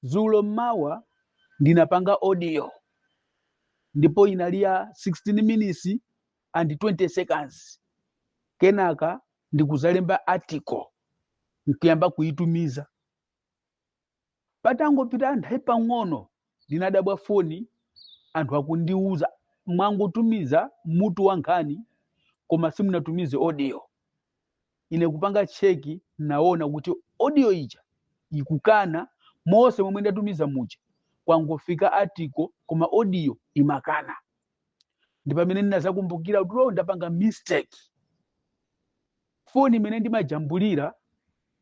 Dzulo mmawa ndinapanga audio ndipo inali ya 16 minutes and 20 seconds. Kenaka ndikuzalemba article nkuyamba kuitumiza. Patangopita nthawi pang'ono ndinadabwa foni anthu akundiuza mwangotumiza mutu wa nkhani koma simunatumize audio. ine kupanga check naona kuti audio ija ikukana mose momwe ndatumiza muja kwangofika article koma audio imakana ndi pamene ndinazakumbukira kuti ndapanga mistake foni imene ndimajambulira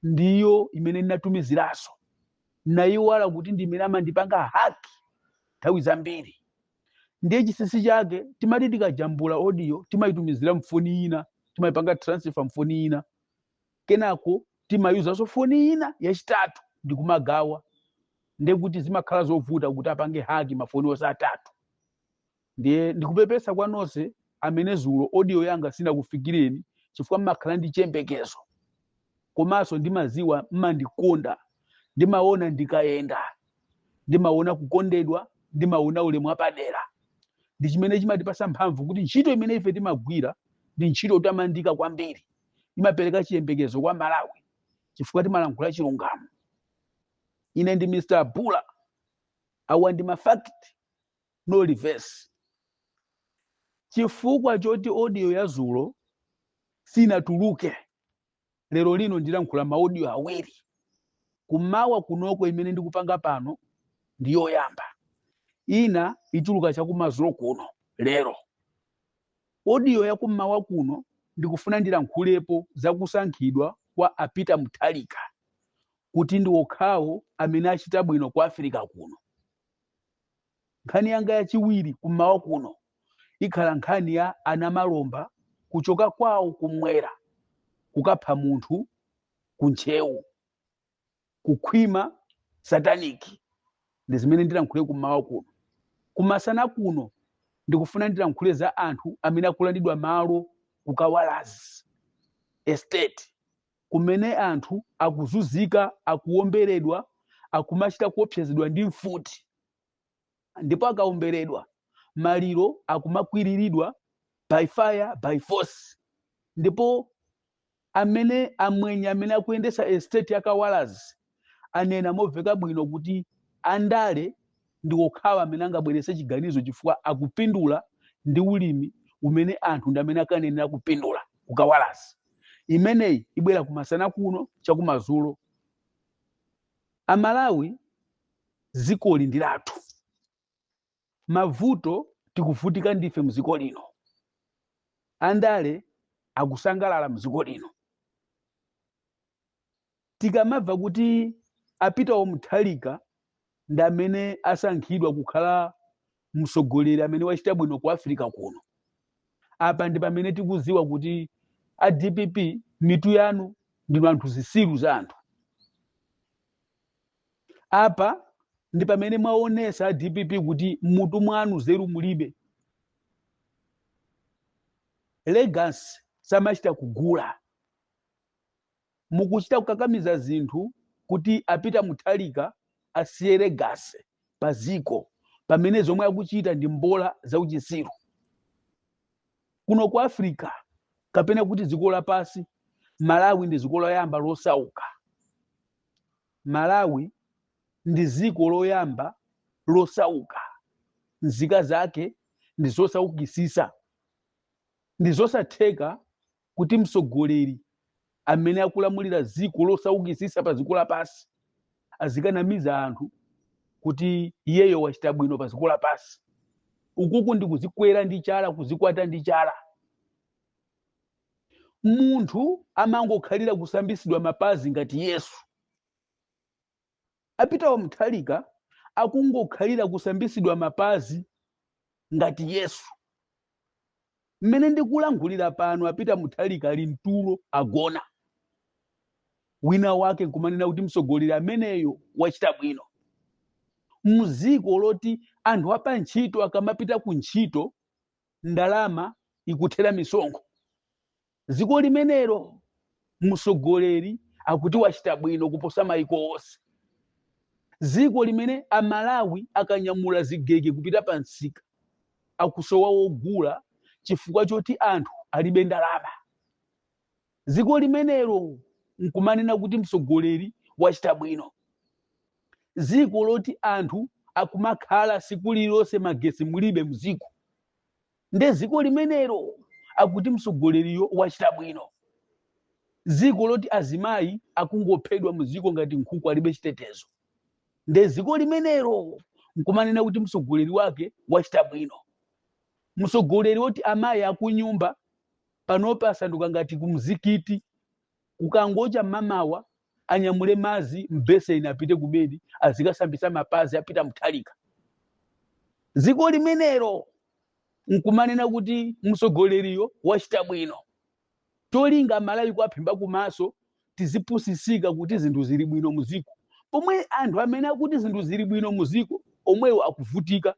ndiyo imene ndinatumiziranso nayiwala kuti ndi imene amandipanga haki nthawi zambiri ndiye chinsinsi chake timati tikajambula audio timayitumizira mfoni ina timayipanga transfer mfoni ina kenako timayuzanso foni ina yachitatu ndi kumagawa ndiye kuti zimakhala zovuta kuti apange haki mafoni onse atatu ndiye ndikupepesa kwa nonse amene zulo audio yanga sinakufikireni chifukwa mmakhala ndi chiyembekezo komanso ndimaziwa mmandikonda ndimaona ndikayenda ndimaona kukondedwa ndimaona ulemu wapadera ndi chimene chimatipasa mphamvu kuti ntchito imene ife timagwira ndi ntchito yotamandika kwambiri imapereka chiyembekezo kwa amalawi chifukwa timalankhula chilungamo ine ndi mr bule awa ndi mafact no reverse chifukwa choti audio ya zulo sinatuluke lero lino ndilankhula maaudio awiri kummawa kunoko imene ndikupanga pano ndi yoyamba ina ituluka chakumazulo kuno lero audio yakummawa kuno ndikufuna ndilankhulepo zakusankhidwa kwa apita muthalika kuti ndi okhawo amene achita bwino ku africa kuno Nkhani yanga yachiwiri kummawa kuno ikhala nkhani ya anamalomba kuchoka kwawo kummwera kukapha munthu ku Ntcheu, kukhwima sataniki ndi zimene ndilankhule kummawa kuno. Kumasana kuno ndikufuna ndilankhule za anthu amene akulandidwa malo ku Kawalazi estate. kumene anthu akuzunzika, akuwomberedwa, akumachita kuopsezedwa ndi mfuti, ndipo akawomberedwa maliro akumakwiriridwa by fire by force, ndipo amene amwenye amene akuyendesa estate ya Kawalazi anena moveka bwino kuti andale ndi okhawa amene angabwerese chiganizo chifukwa akupindula ndi ulimi umene anthu ndi amene akanenera kupindula ku Kawalazi imeneyi ibwera kumasana kuno chakumazulo amalawi zikoli ndi lathu mavuto tikuvutika ndife mziko lino andale akusangalala mziko lino tikamamva kuti a Peter wa Mutharika ndi amene asankhidwa kukhala mtsogoleri amene wachita bwino ku africa kuno apa ndi pamene tikuziwa kuti a dpp mitu yanu ndinu anthu zisiru za anthu apa ndi pamene mwaonesa a dpp kuti mmutu mwanu zeru mulibe legacy samachita kugula mukuchita kukakamiza zinthu kuti a Peter Mutharika asiye legacy pa ziko pamene zomwe akuchita ndi mbola zauchisiru kuno ku africa kapena kuti dziko lapansi malawi ndi dziko loyamba losauka Malawi ndi ziko loyamba losauka nzika zake ndi zosaukisisa ndi zosatheka kuti msogoleri amene akulamulira ziko losaukisisa pa ziko lapasi azikanamiza anthu kuti iyeyo wachita bwino pa ziko lapasi ukuku ndi kuzikwera ndi chala kuzikwata ndi chala munthu amangokhalira kusambitsidwa mapazi ngati yesu a Peter wa Mutharika akungokhalira kusambitsidwa mapazi ngati yesu mmene ndikulankhulira pano a Peter Mutharika ali mtulo agona wina wake nkumanena kuti mtsogoleri ameneyo wachita bwino mziko loti anthu apa ntchito akamapita ku ntchito ndalama ikuthera misonkho dziko limenelo mtsogoleri akuti wachita bwino kuposa maiko onse dziko limene amalawi akanyamula zigege kupita pa msika akusowa wogula chifukwa choti anthu alibe ndalama dziko limenelo nkumanena kuti mtsogoleri wachita bwino dziko loti anthu akumakhala siku lililonse magesi mulibe mdziko nde dziko limenelo akuti mtsogoleriyo wachita bwino dziko loti azimayi akungophedwa mdziko ngati nkhuku alibe chitetezo nde dziko limenelo nkumanena kuti mtsogoleri wake wachita bwino mtsogoleri woti amayi akunyumba panopa asanduka ngati kumzikiti kukangocha mmamawa anyamule mazi mbeseni apite kubedi azikasambisa mapazi a Peter Mutharika dziko limenelo nkumanena kuti mtsogoleriyo wachita bwino cholinga Amalawi kwaphimba kumaso tizipusisika kuti zinthu zili bwino muziko pomwe anthu amene akuti zinthu zili bwino muziko omwewo akuvutika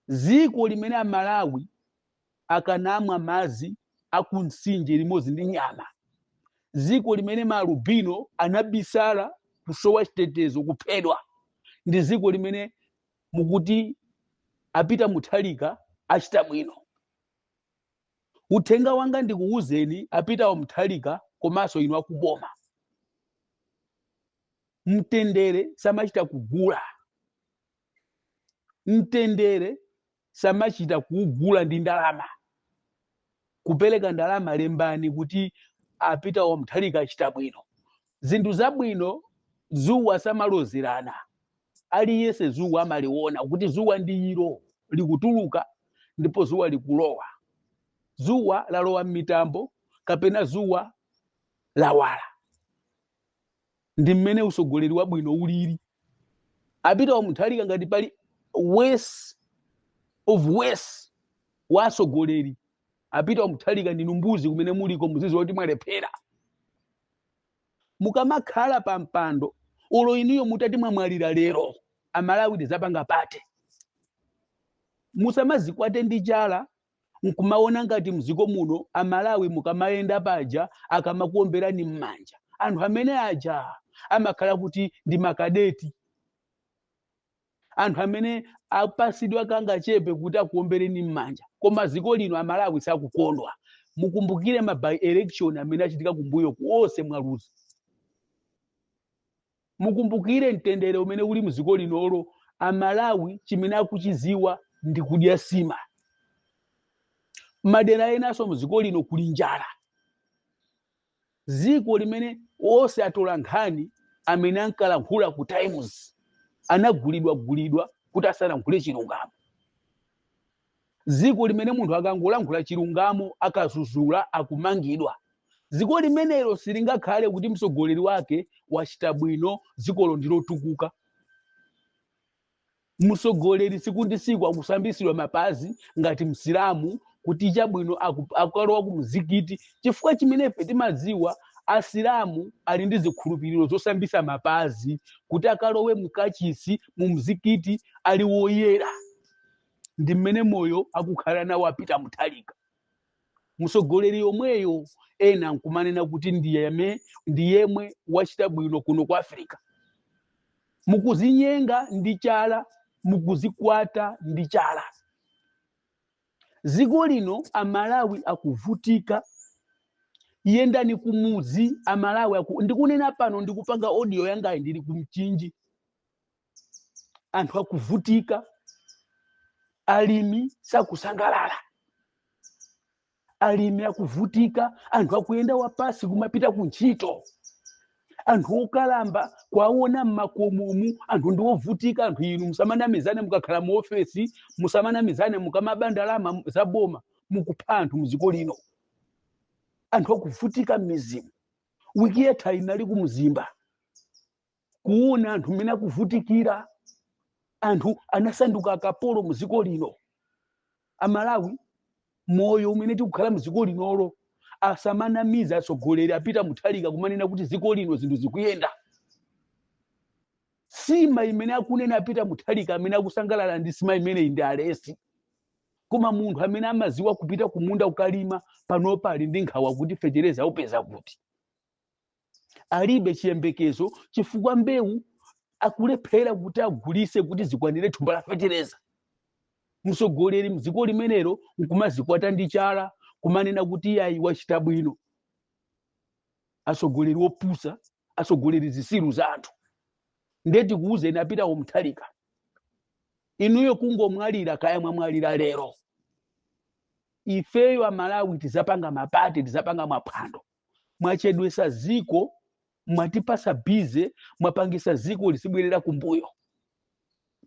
Dziko limene a Malawi akanamwa madzi a ku mtsinje limodzi ndi nyama. Dziko limene maalubino anabisala kusowa chitetezo kuphedwa. Ndi dziko limene mukuti a Peter Mutharika achita bwino. Uthenga wanga ndikuwuzeni a Peter Mutharika komanso inu akuboma. Mtendere samachita kugula. mtendere samachita kugula ndi ndalama kupereka ndalama lembani kuti a Peter wa Mutharika achita bwino zinthu zabwino zuwa samalozerana aliyense zuwa amaliona kuti zuwa ndi ilo likutuluka ndipo zuwa likulowa zuwa lalowa m'mitambo kapena zuwa lawala ndi mmene usogoleri wabwino ulili a Peter wa Mutharika ngati pali worst of worst wa asogoleri a Peter wa Mutharika ndinu mbuzi kumene muliko muziziwa kuti mwalephera mukamakhala pa mpando ulo inuyo mutati mwamwalira lero amalawi tizapanga pate musamazikwate ndi chala nkumaona ngati mdziko muno amalawi mukamayenda paja akamakuomberani m'manja anthu amene aja amakhala kuti ndi makadeti anthu amene apasidwa kangachepe kuti akuombereni m'manja koma dziko lino amalawi sakukondwa mukumbukire ma by election amene achitika kumbuyoku onse mwaluza mukumbukire mtendere umene uli mdziko linolo amalawi chimene akuchiziwa ndi kudya sima madera enanso mdziko lino kuli njala dziko limene onse atola nkhani amene ankalankhula ku times anagulidwa gulidwa kuti asalankhule chilungamo dziko limene munthu akangolankhula chilungamo akazuzula akumangidwa dziko limenelo silingakhale kuti mtsogoleri wake wachita bwino dzikolo ndilotukuka mtsogoleri siku ndi siku akusambitsidwa mapazi ngati msilamu kuti chabwino akalowa ku mzikiti chifukwa chimenefe timadziwa asilamu ali ndi zikhulupiriro zosambisa mapazi kuti akalowe mkachisi mu mzikiti ali woyera ndi mmene moyo akukhala nawo apita muthalika mtsogoleri yomweyo ena nkumanena kuti iye ndiyemwe wachita bwino kuno ku africa mukuzinyenga ndi chala mukuzikwata ndi chala dziko lino amalawi akuvutika yendani kumudzi amalawi ndikunena pano ndikupanga audio yangayi ndili kumchinji anthu akuvutika alimi sakusangalala alimi akuvutika anthu akuyenda wapasi kumapita ku ntchito anthu okalamba kwaona mmakomomu anthu ndi ovutika anthu inu musamanamizane mukakhala mu ofesi musamanamizane mukamaba ndalama za boma mukupha anthu mdziko lino anthu akuvutika mmizimu wiki yatha ndinali kumzimba kuona anthu mmene akuvutikira anthu anasanduka akapolo mu dziko lino amalawi moyo umene tikukhala mu dziko linolo asamanamiza atsogoleri apita muthalika kumanena kuti dziko lino zinthu zikuyenda sima imene akunena apita muthalika amene akusangalala ndi sima imeneyi ndi alesi koma munthu amene amaziwa kupita kumunda kukalima panopa ali ndi nkhawa kuti fetereza aupeza kuti alibe chiyembekezo chifukwa mbewu akulephera kuti agulise kuti zikwanire thumba la fetereza mtsogoleri mdziko limenelo nkumazikwata ndi chala kumanena kuti iyayi wachita bwino atsogoleri opusa atsogoleri zisiru za anthu nde tikuuzeni apita muthalika inuyo kungomwalira kaya mwamwalira lero ifeyo amalawi tizapanga mapate tizapanga maphwando mwachedwesa ziko mwatipasa bize mwapangisa ziko lizibwerera kumbuyo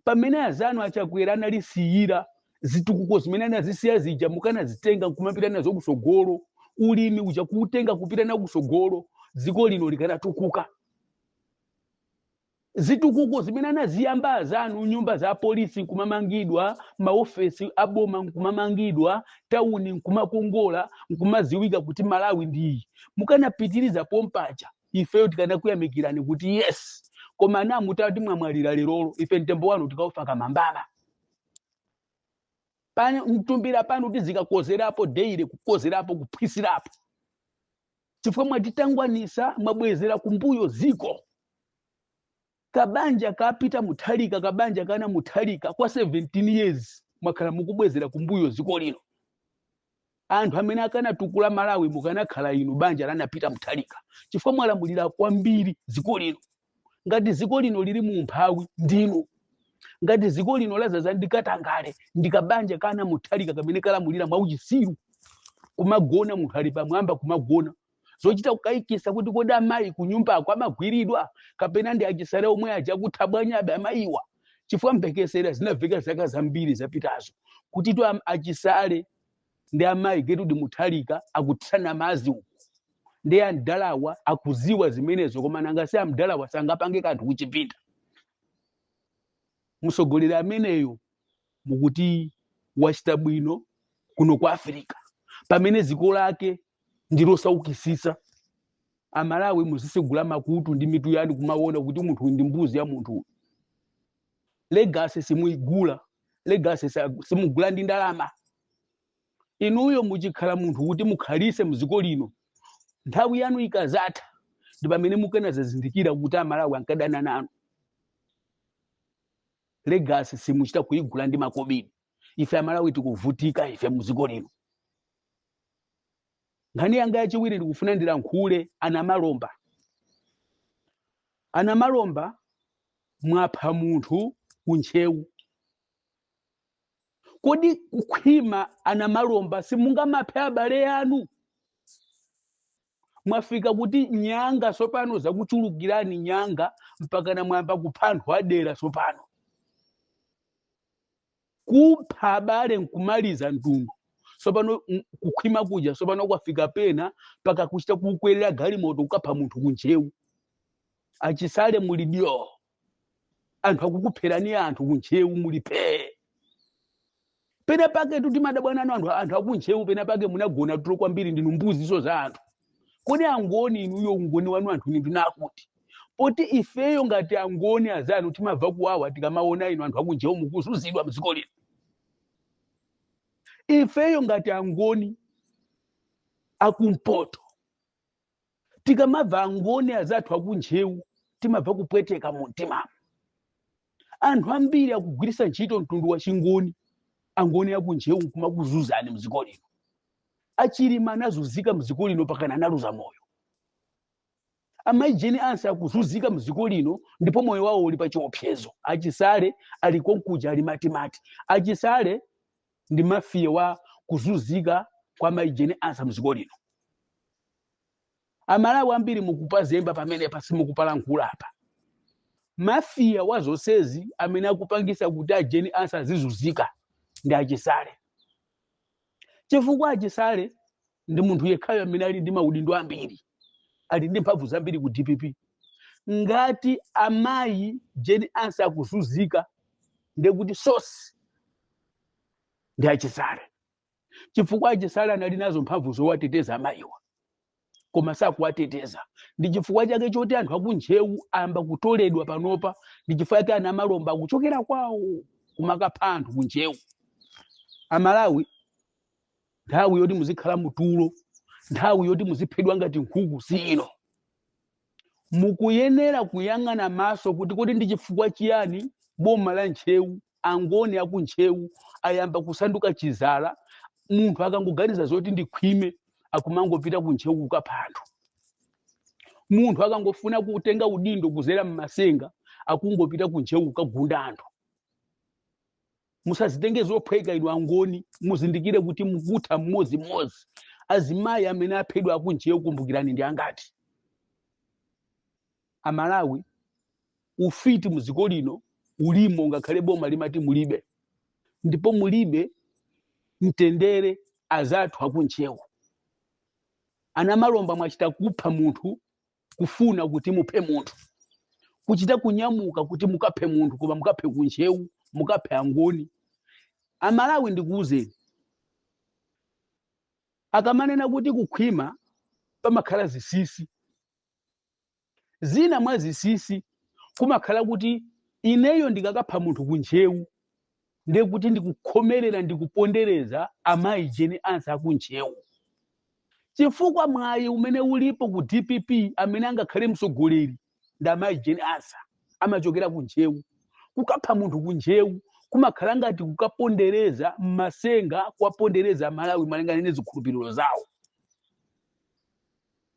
pamene azanu achakwera analisiyira zitukuko zimene anazisiya zija mukanazitenga kumapita nazo kusogolo ulimi uja kuutenga kupita nawo kusogolo dziko lino likanatukuka Zitukuko zimene anaziyamba azanu, nyumba za apolisi nkumamangidwa, maofesi aboma nkumamangidwa, tauni nkumakongola, nkumaziwika kuti Malawi ndi iyi. Mukanapitiriza pompaja, ifeyo tikanakuyamikirani kuti yes, koma ana mutati mwamwalira lerolo, ife mtembo wanu tikaufaka mmandamo pa mtumbira panu tizikakozerapo daily kukozerapo kuphwisirapo chifukwa mwatitangwanisa mwabwezera kumbuyo dziko kabanja kapita muthalika kabanja kana muthalika kwa 17 years mwakhala mukubwezera kumbuyo dziko lino anthu amene akanatukula malawi mukanakhala inu banja lanapita muthalika chifukwa mwalamulira kwambiri dziko lino ngati dziko lino lili mu umphawi ndinu ngati dziko lino lazaza ndi katangale ndi kabanja kana mutharika kamene kalamulira mwa uchisiru kumagona munthu ali pamwamba kumagona zochita kukayikisa kuti kodi amayi kunyumbako amagwiridwa kapena ndi achisale omwe aja akuthabwanyabe amayiwa chifukwa mphekesera zinaveka zaka zambiri zapitazo kuti to am- achisale ndi amayi gertrude mutharika akutsana mazi uku ndi amdalawa akuziwa zimenezo koma nanga si amdalawa sangapange kanthu kuchipinda mtsogoleri ameneyo mukuti wachita bwino kuno kwa africa pamene dziko lake ndilosaukisisa amalawi muzisegula makutu ndi mitu yanu kumaona kuti munthu uyu ndi mbuzi ya munthu uyu legacy simuigula legacy sa- simugula ndi ndalama inuyo muchikhala munthu kuti mukhalise mdziko lino nthawi yanu ikazatha ndi pamene mukanazazindikira kuti amalawi ankadana nanu legacy simuchita kuigula ndi makobidi ife amalawi tikuvutika ife mdziko lino nkhani yanga yachiwiri ndikufuna ndilankhule anamalomba anamalomba mwapha munthu kuntcheu kodi kukhwima anamalomba simungamaphe abale anu mwafika kuti nyanga sopano zakuchulukirani nyanga mpakana mwayamba kupha anthu adera sopano kupha abale nkumaliza mtundu sopano m- kukhwima kuja sopano kwafika pena paka kuchita kukwerera galimoto kukapha munthu kuntcheu achisale muli dyo anthu akukupherani anthu kuntcheu muli phee pena paketu timadabwa nanu anthu akuntcheu pena pake munagona tulo kwambiri ndinu mbuziso za anthu kodi angoni inuyo ungoni wanu anthuni ndinakuti poti ifeyo ngati angoni azanu timabva kuwawa tikamaona inu anthu akuntcheu mukuzuzidwa mdziko lino ifeyo ngati angoni akumpoto tikamabva angoni azathu akuntcheu timabva kupweteka mu mtimamu anthu ambiri akugwirisa ntchito mtundu wa chingoni angoni akuntcheu kumakuzuzani mdziko lino achilima anazuzika mdziko lino pakana analuza moyo amayi jane ansah akuzuzika mdziko lino ndipo moyo wawo uli pa chiopsezo achisale ali konkuja ali matimati achisale ndi mafia wa kuzuzika kwa mayi jane ansah mdziko lino amalawi ambiri mukupazemba pamenepa simukupalankhula apa mafia wa zonsezi amene akupangisa kuti ajane ansah azizuzika ndi achisale chifukwa achisale ndi munthu yekhayo amene ali ndi maudindo ambiri ali ndi mphamvu zambiri ku dpp ngati amayi Jane Ansah akuzunzika ndekuti sosi ndi achisale chifukwa achisale anali nazo mphamvu zowateteza amayiwa koma sakuwateteza ndi chifukwa chake choti anthu akuntcheu ayamba kutoledwa panopa ndi chifukwa chake a Namalomba akuchokera kwawo kumakapha anthu kuntcheu amalawi nthawi yoti muzikhala mutulo nthawi yoti muziphedwa ngati nkhuku si ino mukuyenera kuyang'ana maso kuti kodi ndi chifukwa chiyani boma la ntcheu angoni akuntcheu ayamba kusanduka chizala munthu akangoganiza zoti ndikhwime akumangopita kuntcheu kukapha anthu munthu akangofuna kutenga udindo kuzera m'matsenga akungopita kuntcheu kukagunda anthu musazitenge zophweka inu angoni muzindikire kuti mukutha mmodzimmodzi azimayi amene aphedwa akuntcheu kumbukirani ndi angati Amalawi ufiti muziko lino ulimo ngakhale boma limati mulibe ndipo mulibe mtendere azathu akuntcheu a Namalomba mwachita kupha munthu kufuna kuti muphe munthu kuchita kunyamuka kuti mukaphe munthu koma mukaphe kuntcheu mukaphe angoni amalawi ndikuwuzeni akamanena kuti kukhwima pamakhala zizimba zina mwa zizimba kumakhala kuti ineyo ndikakapha munthu kuntcheu ndiye kuti ndikukhomerera ndikupondereza amayi Jane Ansah akuntcheu chifukwa mwayi umene ulipo ku dpp amene angakhale mtsogoleri ndi amayi Jane Ansah amachokera ku ntcheu kukapha munthu ku ntcheu kumakhala ngati kukapondereza m'matsenga kuwapondereza amalawi malingana ndi zikhulupiriro zawo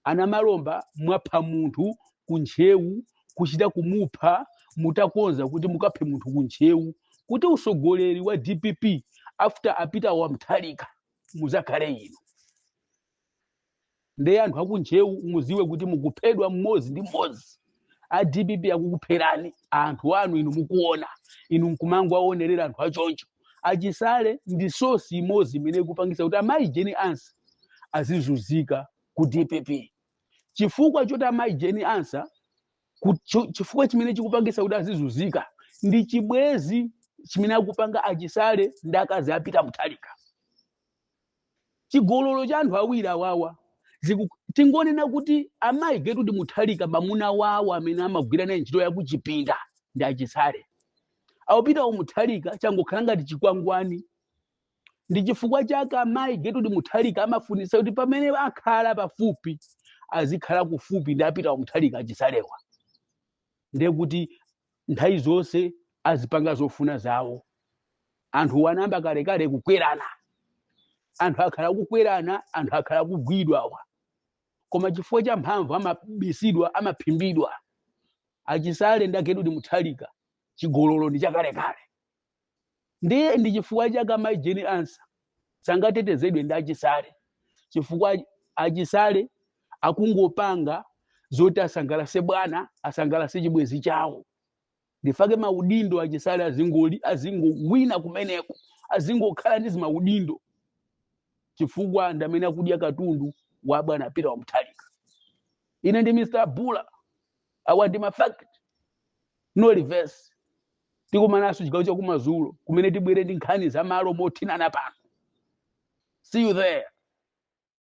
a Namalomba mwapha munthu ku ntcheu kuchita kumupha mutakonza kuti mukaphe munthu ku ntcheu kuti usogoleri wa dpp after a Peter wa Mutharika muzakhale inu ndeye anthu aku ntcheu muziwe kuti mukuphedwa mmodzi ndi mmodzi a dpp akukupherani anthu anu inu mukuona inu nkumangowaonerera anthu achoncho achisale ndi sosi imodzi imene ikupangisa kuti amayi Jane Ansah azizunzika ku dpp chifukwa choti amayi Jane Ansah ku- cho- chifukwa chimene chikupangisa kuti azizunzika ndi chibwezi chimene akupanga achisale ndi akazi a Peter Mutharika chigololo cha anthu awiri awawa ziku- tingonena kuti amayi Gertrude Mutharika mamuna wawo amene amagwira naye ntchito yakuchipinda ndi a Chisale a Peter wa Mutharika changokhala ngati chikwangwani ndi chifukwa chake amayi Gertrude Mutharika amafunisa kuti pamene akhala pafupi azikhala kufupi ndi a Peter wa Mutharika a Chisalewa ndiye kuti nthawi zonse azipanga zofuna zawo anthuwa anayamba kalekale kukwerana anthu akhala akukwerana anthu akhala akugwidwa awa koma chifukwa cha mphamvu amabisidwa amaphimbidwa a Chisale nda Gertrude Mutharika chigololo ndi chakalekale ndiye ndi chifukwa chake amayi Jane Ansah sangatetezedwe ndi a Chisale chifukwa a Chisale akungopanga zoti asangalase bwana asangalase chibwezi chawo ndifake maudindo a Chisale azingoli azingowina kumeneko azingokhala ndi zimaudindo chifukwa ndamene akudya katundu wa bwana Peter wa Mutharika ine ndi mr bula awa ndi mafakiti no reverse tikumananso chigawo cha kumadzulo kumene tibwere ndi nkhani za malo mothinana pano see you there